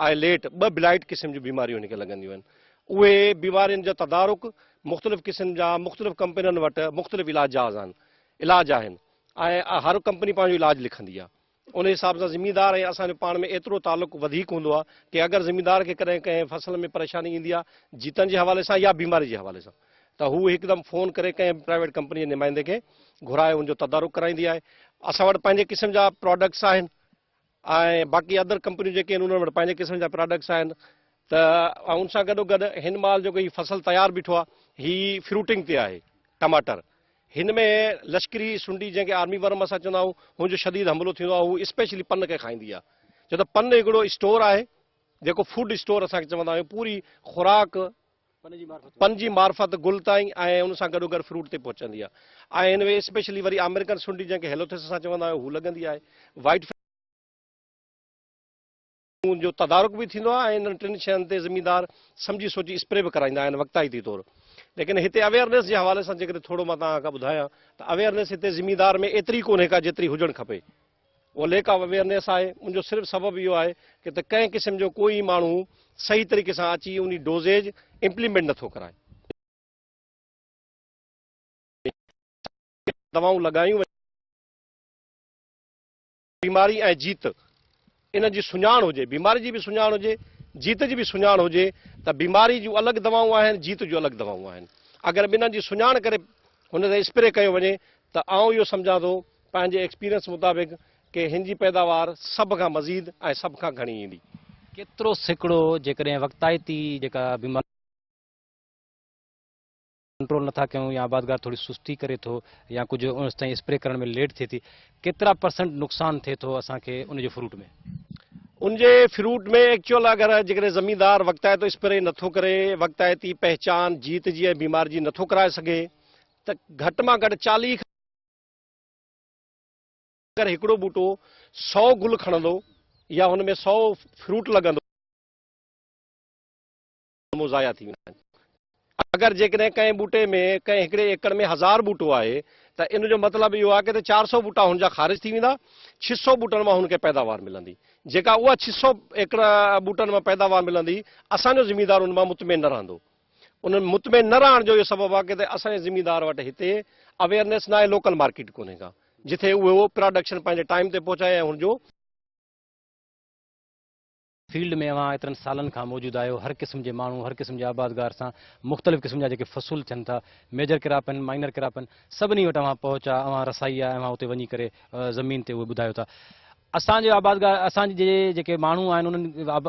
آئي ليٽ ٻه بلائيٽ قسم جون بيماريون هن کي لڳنديون آهن اهي بيمارين جو تدارڪ مختلف قسم جا مختلف ڪمپنين وٽ مختلف علاج جاز آهن علاج آهن ۽ هر ڪمپني پنهنجو علاج لکندي آهي ان حساب سان زميندار ۽ اسان جو پاڻ ۾ ايترو تعلق وڌيڪ هوندو آهي ڪي اگر زميندار کي ڪڏهن ڪنهن فصل ۾ پريشاني ايندي آهي جيتن جي حوالي سان يا بيماري جي حوالي سان ته هو هڪدم فون ڪري ڪنهن به پرائيويٽ ڪمپني جي نمائندي کي گهرائي ان جو تدارڪ ڪرائيندي آهي اسان وٽ پنهنجي قسم جا پراڊڪٽس آهن ۽ باقي ادر ڪمپنيون جيڪي آهن انهن وٽ پنهنجي قسم جا پراڊڪٽس آهن ته ان سان گڏو گڏ هن مال جيڪو هي فصل تيار بيٺو آهي هي فروٽنگ تي آهي ٽماٽر هن ۾ لشڪري سنڊي جنهن کي آرمي ورم اسان چوندا آهيون هن جو شديد حملو ٿيندو آهي هو اسپيشلي پن کي کائيندي آهي ڇو ته پن هڪڙو اسٽور آهي جيڪو فوڊ اسٽور اسان کي چوندا آهيون پوري خوراڪ پن جي معرفت گل تائين ۽ ان سان گڏوگڏ فروٽ تي پهچندي آهي ۽ هن ۾ اسپيشلي وري آمريڪن سنڊي جنهن کي هيلوٿس اسان چوندا آهيون هو لڳندي آهي وائيٽ فليم مون جو تدارڪ به ٿيندو آهي ۽ انهن ٽن شين تي زميندار سمجهي سوچي اسپري به ڪرائيندا آهن وقتائتي طور ليڪن هتي اويئرنيس جي حوالي سان جيڪڏهن ٿورو مان توهان کان ٻڌايان ته اويئرنيس هتي زميندار ۾ ايتري ڪونهي ڪا جيتري هجڻ کپي اهو ليڪ آف اويئرنيس آهي ان جو صرف سبب اهو آهي ڪه ته ڪنهن قسم جو ڪو ئي ماڻهو صحيح طريقي سان اچي انهي ڊوزيج امپليمينٽ نه ٿو ڪرائي. دوائون لڳايون وڃن. بيماري ۽ جيت ان جي سڃاڻ هجي، بيماري جي به سڃاڻ هجي، جيت جي به سڃاڻ هجي ته بيماري جون الڳ دوائون آهن، جيت جون الڳ دوائون آهن. اگر ٻنهن جي سڃاڻ ڪري هن تي اسپري ڪيو وڃي ته آئون اهو سمجهان ٿو پنهنجي ايڪسپيرينس مطابق ڪي هن جي پيداوار سڀ کان مزيد ۽ سڀ کان گهڻي ايندي. ڪيترو سيڪڙو جيڪڏهن وقتائتي جيڪا بيماري ڪنٽرول نٿا ڪيون يا آبادگار ٿوري سستي ڪري ٿو يا ڪجهه ان ستائين اسپري ڪرڻ ۾ ليٽ ٿئي ٿي ڪيترا پرسنٽ نقصان ٿئي ٿو اسان کي ان جي فروٽ ۾. ان جي فروٽ ۾ ايڪچوئل اگر جيڪڏهن زميندار وقتائتو اسپري نٿو ڪري وقتائتي پهچان جيت جي ۽ بيمار جي نٿو ڪرائي سگهي ته گهٽ مان گهٽ چاليهه اگر هڪڙو ٻوٽو سؤ گل کڻندو يا هن ۾ سؤ فروٽ لڳندو ته ضايع ٿي ويندا آهن. اگر جيڪڏهن ڪنهن ٻوٽي ۾ ڪنهن هڪڙي ايڪڙ ۾ هزار ٻوٽو آهي ته ان جو مطلب اهو آهي ته ته چار سؤ ٻوٽا هن جا خارج ٿي ويندا، ڇهه سؤ ٻوٽن مان هن کي پيداوار ملندي. جيڪا اها ڇهه سؤ ايڪڙ ٻوٽن مان پيداوار ملندي، اسان جو ذميدار ان مان مطمئن نه رهندو. انهن مطمئن نه رهڻ جو اهو سبب آهي ته اسان جي زميندار وٽ هتي اويئرنيس ناهي لوڪل مارڪيٽ ڪونهي ڪا جتي اهو پراڊڪشن پنهنجي ٽائيم تي پهچائي ۽ هن جو فيلڊ ۾ اوهان ايترن سالن کان موجود آهيو هر قسم جي ماڻهو هر قسم جي آبادگار سان مختلف قسم جا جيڪي فصول ٿين ٿا ميجر ڪراپ آهن مائنر ڪراپ آهن سڀني وٽ اوهان پهچ آهي اوهان رسائي آهي اوهان اتي وڃي ڪري زمين تي اهي ٻڌايو ٿا اسان جي آبادگار اسان جي جيڪي ماڻهو آهن انهن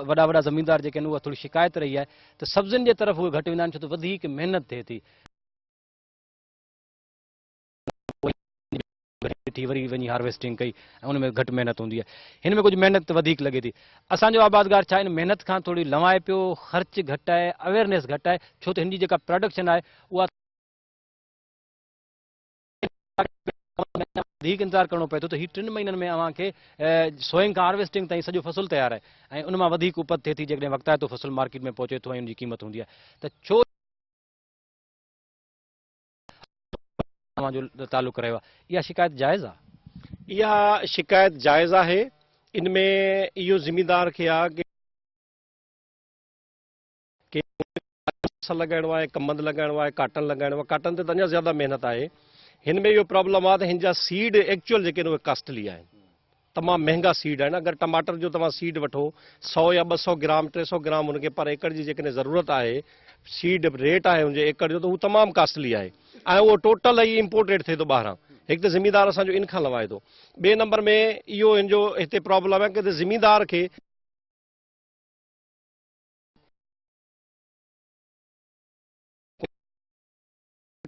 وڏا وڏا زميندار جيڪي آهن اها ٿوري شڪايت رهي آهي ته سبزين جي طرف اهي گهٽ ويندا آهن ڇو ته وڌيڪ محنت ٿئي ٿي. ٺھي وري وڃي ھارويسٽنگ ڪئي ۽ ان ۾ گھٽ محنت ھوندي آھي ھن ۾ ڪجھ محنت وڌيڪ لڳي ٿي اسان جو آبادگار ڇا ان محنت کان ٿوري لنوائي پيو خرچ گھٽ آھي اويرنيس گھٽ آھي ڇو ته ھن جي جيڪا پراڊڪشن آھي اها وڌيڪ انتظار ڪرڻو پئي ٿو ته هي ٽن مهينن ۾ اوهان کي سوئنگ کان هارويسٽنگ تائين سڄو فصل تيار آهي ۽ ان مان وڌيڪ اپت ٿئي ٿي جيڪڏهن وقتائتو فصل مارڪيٽ ۾ پهچي ٿو ۽ ان جي قيمت هوندي آهي ته ڇو اوهان جو تعلق رهيو آهي اها شڪايت جائز آهي اها شڪايت جائز آهي ان ۾ اهو ذميدار کي آهي ڪي اصل لڳائڻو آهي ڪم بند لڳائڻو آهي ڪاٽن لڳائڻو آهي ڪاٽن تي ته اڃا زياده محنت آهي هن ۾ اهو پرابلم آهي ته هن جا سيڊ ايڪچوئل جيڪي آهن اهي ڪاسٽلي آهن تمام مهنگا سيڊ آهن اگر ٽماٽر جو توهان سيڊ وٺو سو يا ٻه سو گرام ٽي سو گرام هن کي پر ايڪڙ جي جيڪڏهن ضرورت آهي سيڊ ريٽ آهي هن جو ايڪڙ جو ته هو تمام ڪاسٽلي آهي ۽ اهو ٽوٽل ئي امپورٽيڊ ٿئي ٿو ٻاهران هڪ ته ذميدار اسان جو ان کان لوائي ٿو ٻئي نمبر ۾ اهو هن جو هتي پرابلم آهي ڪي ته ذميدار کي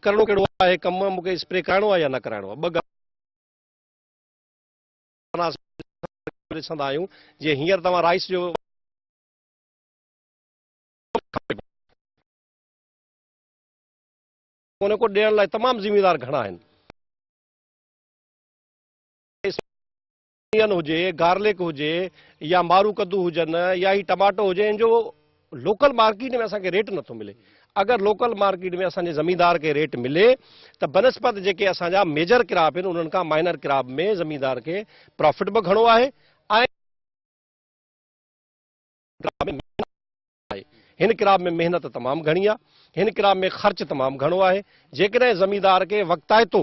ڪرڻو ڪهڙو آهي هي ڪم مون کي اسپري ڪرائڻو آهي يا نه ڪرائڻو آهي ٻه ڳالهيون ڏسندا آهيون جي هينئر توهان رائس جو ان کو ڏيڻ لاء تمام ذميوار گهڻا آهن انيون هجي، گارلڪ هجي يا مارو ڪدو هجن يا هي ٽماٽو هجي ان جو لوڪل مارڪيٽ ۾ اسان کي ريٽ نٿو ملي. اگر لوڪل مارڪيٽ ۾ اسان جي زميندار کي ريٽ ملي ته بنسبت جيڪي اسان جا ميجر ڪراپ آهن انهن کان مائنر ڪراپ ۾ زميندار کي پرافٽ به گهڻو آهي ۽ آهي. هن ڪراب ۾ محنت تمام گهڻي آهي. هن ڪراب ۾ خرچ تمام گهڻو آهي. جيڪڏهن زميندار کي وقتائتو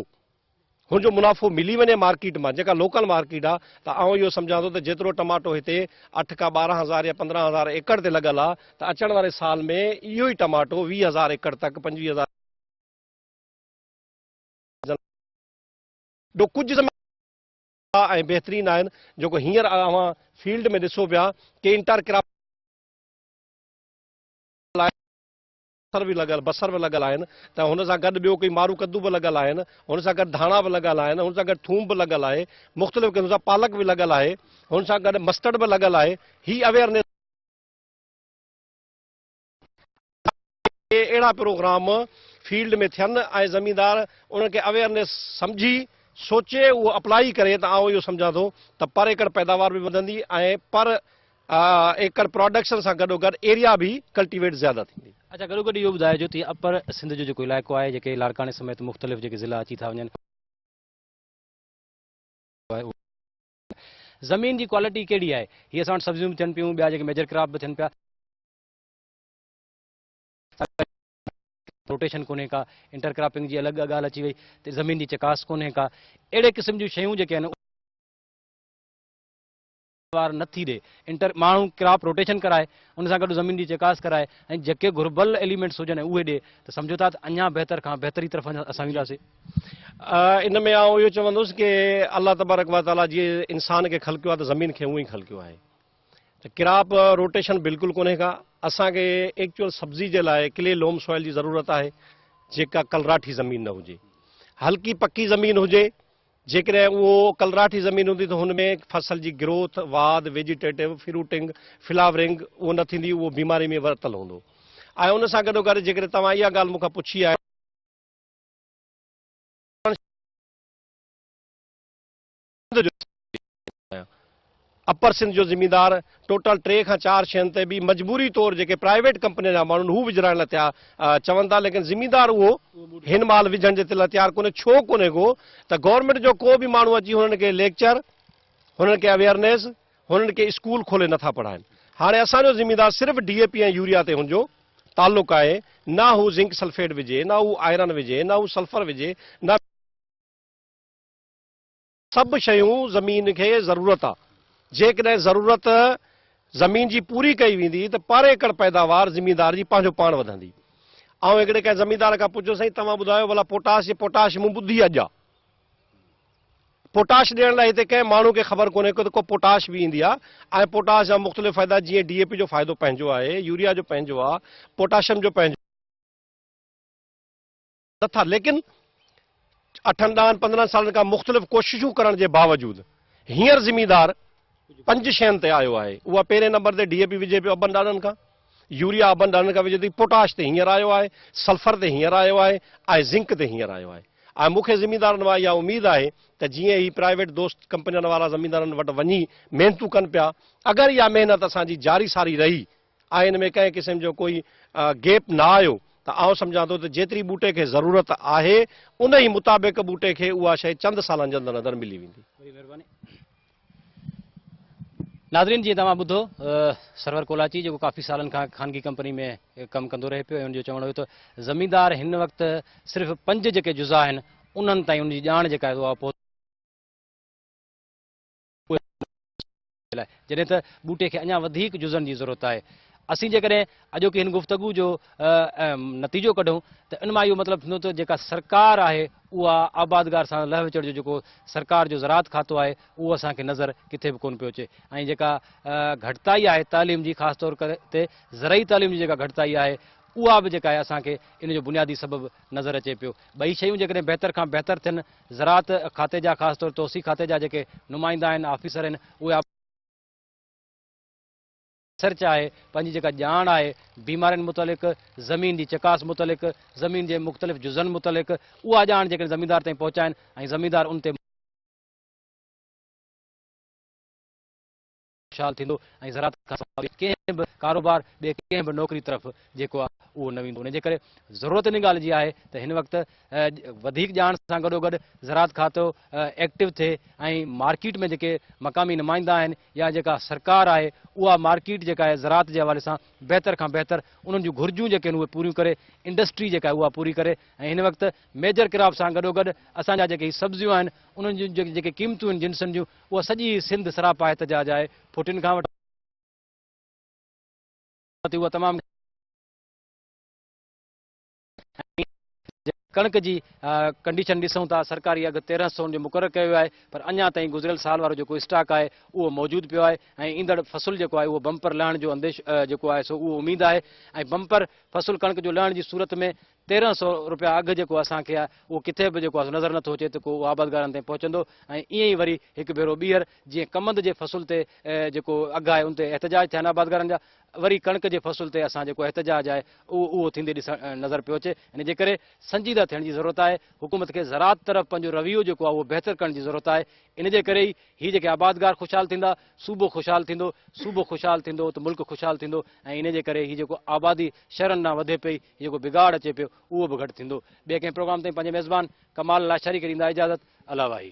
هن جو منافعو ملي وڃي مارڪيٽ مان جيڪا لوڪل مارڪيٽ آهي ته آئون اهو سمجهان ٿو ته جيترو ٽماٽو هتي اٺ کان ٻارهن هزار يا پندرهن هزار ايڪڙ تي لڳل آهي ته اچڻ واري سال ۾ اهو ئي ٽماٽو ويهه هزار ايڪڙ تڪ پنجويهه هزار جو ڪجهه زمين ۽ بهترين آهن جيڪو هينئر اوهان فيلڊ ۾ ڏسو پيا ڪي انٽر ڪراپ بصر به لڳل بصر به لڳل آهن ته هن سان گڏ ٻيو ڪي مارو ڪدو به لڳل آهن هن سان گڏ ڌاڻا به لڳل آهن هن سان گڏ ٿوم به لڳل آهي مختلف قسم سان پالڪ به لڳل آهي هن سان گڏ مسٽرڊ به لڳل آهي هي اويئرنيس ته اهڙا پروگرام فيلڊ ۾ ٿين ۽ زميندار انهن کي اويئرنيس سمجهي سوچي اهو اپلائي ڪري ته آئون اهو سمجهان ٿو ته پر ايڪڙ پيداوار به وڌندي ۽ پر ايڪڙ پراڊڪشن سان گڏوگڏ ايريا به ڪلٽيويٽ زياده ٿيندي. اچا گڏوگڏ اهو ٻڌائجو ته هي اپر سنڌ جو جيڪو علائقو آهي جيڪي لاڙڪاڻي سميت مختلف جيڪي ضلعا اچي ٿا وڃن اهو زمين جي ڪوالٽي ڪهڙي آهي هي اسان وٽ سبزيون به ٿين پيون ٻيا جيڪي ميجر ڪراپ به ٿين پيا. روٽيشن ڪونهي ڪا انٽر ڪراپنگ جي الڳ ڳالهه اچي وئي ته زمين جي چڪاس ڪونهي ڪا اهڙي قسم جون شيون جيڪي آهن وار نه ٿي ڏي انٽر ماڻهو ڪراپ روٽيشن ڪرائي ان سان گڏ زمين جي چڪاس ڪرائي ۽ جيڪي گهربل ايليمنٽس هجن اهي ڏي ته سمجھو ٿا ته اڃا بهتر کان بهتري طرف اسان وينداسي ان ۾ آئون اهو چوندس ڪي الله تبارڪ وتعالي جي انسان کي خلقيو آهي ته زمين کي اونئي خلقيو آهي ته ڪراپ روٽيشن بلڪل ڪونهي ڪا اسان کي ايڪچوئل سبزي جي لاء ڪلي لوم سوئل جي ضرورت آهي جيڪا ڪلراٺي زمين نه هجي هلڪي پڪي زمين هجي جيڪڏهن اهو ڪلراٺي زمين هوندي ته هن ۾ فصل جي گروٿ واڌ ويجيٽيٽو فروٽنگ فلاورنگ اهو نه ٿيندي اهو بيماري ۾ ورتل هوندو ۽ ان سان گڏو گڏ جيڪڏهن توهان اها ڳالهه مون کان پڇي آهي سنڌ جو سيد آهيان. اپر سنڌ جو زميندار ٽوٽل ٽي کان چار شين تي به مجبوري طور جيڪي پرائيويٽ ڪمپنين جا ماڻهو آهن هو وجهرائڻ لاء تيار چون ٿا ليڪن زميندار اهو هن مهل وجهڻ جي لاء تيار ڪونهي ڇو ڪونهي ڪو ته گورنمينٽ جو ڪو به ماڻهو اچي هنن کي ليڪچر هنن کي اويئرنيس هنن کي اسڪول کولي نٿا پڙهائن هاڻي اسان جو زميندار صرف ڊي اي پي ۽ يوريا تي هن جو تعلق آهي نه هو زنڪ سلفيٽ وجهي نه هو آئرن وجهي نه هو سلفر وجهي نه سڀ شيون زمين کي ضرورت آ جيڪڏهن ضرورت زمين جي پوري ڪئي ويندي ته پر ايڪڙ پيداوار زميندار جي پنهنجو پاڻ وڌندي آئون هڪڙي ڪنهن زميندار کان پڇيو سائين توهان ٻڌايو ڀلا پوٽاش جي پوٽاش مون ٻڌي اڄ آ پوٽاش ڏيڻ لاء هتي ڪنهن ماڻهو کي خبر ڪونهي ڪو ته ڪو پوٽاش به ايندي آ ۽ پوٽاش جا مختلف فائدا جيئن ڊي اي پي جو فائدو پنهنجو آهي يوريا جو پنهنجو آ پوٽاشم جو پنهنجو نه ٿا ليڪن اٺن ڏهن پندرهن سالن کان مختلف ڪوششون ڪرڻ جي باوجود هينئر زميندار پنج شين تي آيو آهي اها پهرين نمبر تي ڊي اي پي وجهي پيو ابن ڏاڏن کان يوريا ابن ڏاڏن کان وجهي تي پوٽاش تي هينئر آيو آهي سلفر تي هينئر آيو آهي ۽ زنڪ تي هينئر آيو آهي ۽ مونکي زميندارن وارا اها اميد آهي ته جيئن هي پرائيويٽ دوست ڪمپنين وارا زميندارن وٽ وڃي محنتون ڪن پيا اگر اها محنت اسان جي جاري ساري رهي آئين ۾ ڪنهن قسم جو ڪوئي گيپ نه آيو ته آئون سمجهان ٿو ته جيتري ٻوٽي کي ضرورت آهي ان ئي مطابق ٻوٽي کي اها شيء چند سالن جي اندر اندر ملي ويندي. وڏي مهرباني. ناظرين جيئن توهان ٻڌو سرور ڪولاچي جيڪو ڪافي سالن کان خانگي ڪمپني ۾ ڪم ڪندو رهي پيو ۽ ان جو چوڻ هيو ته زميندار هن وقت صرف پنج جيڪي جزا آهن انهن تائين ان جي ڄاڻ جيڪا آهي اها اهي ٻوٽا ٻچن جي لاء جڏهن ته ٻوٽي کي اڃا وڌيڪ جزن جي ضرورت آهي. اسين جيڪڏهن اڄوڪي هن گفتگو جو نتيجو ڪڍون ته ان مان اهو مطلب ٿيندو ته جيڪا سرڪار آهي اها آبادگار سان لهه وچڙ جو جيڪو سرڪار جو زراعت کاتو آهي اهو اسان کي نظر ڪٿي به ڪونه پيو اچي ۽ جيڪا گهٽتائي آهي تعليم جي خاص طور تي زرعي تعليم جي جيڪا گهٽتائي آهي اها به جيڪا آهي اسان کي ان جو بنيادي سبب نظر اچي پيو ٻئي شيون جيڪڏهن بهتر کان بهتر ٿين زراعت کاتي جا خاص طور توسيع کاتي جا جيڪي نمائندا آهن آفيسر آهن اهي آپريشن ريسرچ آهي پنهنجي جيڪا ڄاڻ آهي بيمارين متعلق زمين جي چڪاس متعلق زمين جي مختلف جزن متعلق اها ڄاڻ جيڪڏهن زميندار تائين پهچائين ۽ زميندار ان تي خوشحال ٿيندو ۽ زراعت کان سواء ٻئي ڪنهن به ڪاروبار، ٻئي ڪنهن به نوڪري طرف جيڪو آهي اهو نه ويندو. ان جي ڪري ضرورت ان ڳالهه جي آهي ته هن وقت وڌيڪ ڄاڻ سان گڏوگڏ زراعت کاتو ايڪٽو ٿئي ۽ مارڪيٽ ۾ جيڪي مقامي نمائندا آهن يا جيڪا سرڪار آهي اها مارڪيٽ جيڪا آهي زراعت جي حوالي سان بهتر کان بهتر انهن جون گهرجون جيڪي آهن اهي پوريون ڪري، انڊسٽري جيڪا آهي اها پوري ڪري ۽ هن وقت ميجر ڪراپ سان گڏوگڏ اسان جا جيڪي هي سبزيون آهن انهن جون جيڪي قيمتون آهن جنسن جون اها سڄي سنڌ سراپا احتجاج آهي، ڦٽين کان وٺي اها تمام گهڻي آهي، جي ڪڻڪ جي ڪنڊيشن ڏسون ٿا، سرڪاري اگهه تيرهن سون جو مقرر ڪيو ويو آهي پر اڃا تائين گذريل سال وارو جيڪو اسٽاڪ آهي اهو موجود پيو آهي ۽ ايندڙ فصل جيڪو آهي اهو بمپر لهڻ جو انديشو جيڪو آهي سو اهو اميد آهي ۽ بمپر فصل ڪڻڪ جو لهڻ جي صورت ۾ تيرهن سئو روپيا اگهه جيڪو اسان کي آهي اهو ڪٿي به جيڪو آهي سو نظر نٿو اچي ته ڪو اهو آبادگارن تائين پهچندو ۽ ائين ئي وري هڪ ڀيرو ٻيهر جيئن ڪمند جي فصل تي جيڪو اگهه آهي ان تي احتجاج ٿيا آهن آبادگارن جا وري ڪڻڪ جي فصل تي اسان جيڪو احتجاج آهي اهو اهو ٿيندي ڏسڻ نظر پيو اچي ان جي ڪري سنجيده ٿيڻ جي ضرورت آهي حڪومت کي زراعت طرف پنهنجو رويو جيڪو آهي اهو بهتر ڪرڻ جي ضرورت آهي ان جي ڪري ئي هي جيڪي آبادگار خوشحال ٿيندا صوبو خوشحال ٿيندو صوبو خوشحال ٿيندو ته ملڪ خوشحال ٿيندو ۽ ان جي ڪري هي جيڪو آبادي شهرن ڏانهن وڌي پئي جيڪو بگاڙ اچي پيو اهو به گهٽ ٿيندو. ٻئي ڪنهن پروگرام تائين پنهنجي ميزبان ڪمال لاشاري کي ڏيندا اجازت. الله واهي.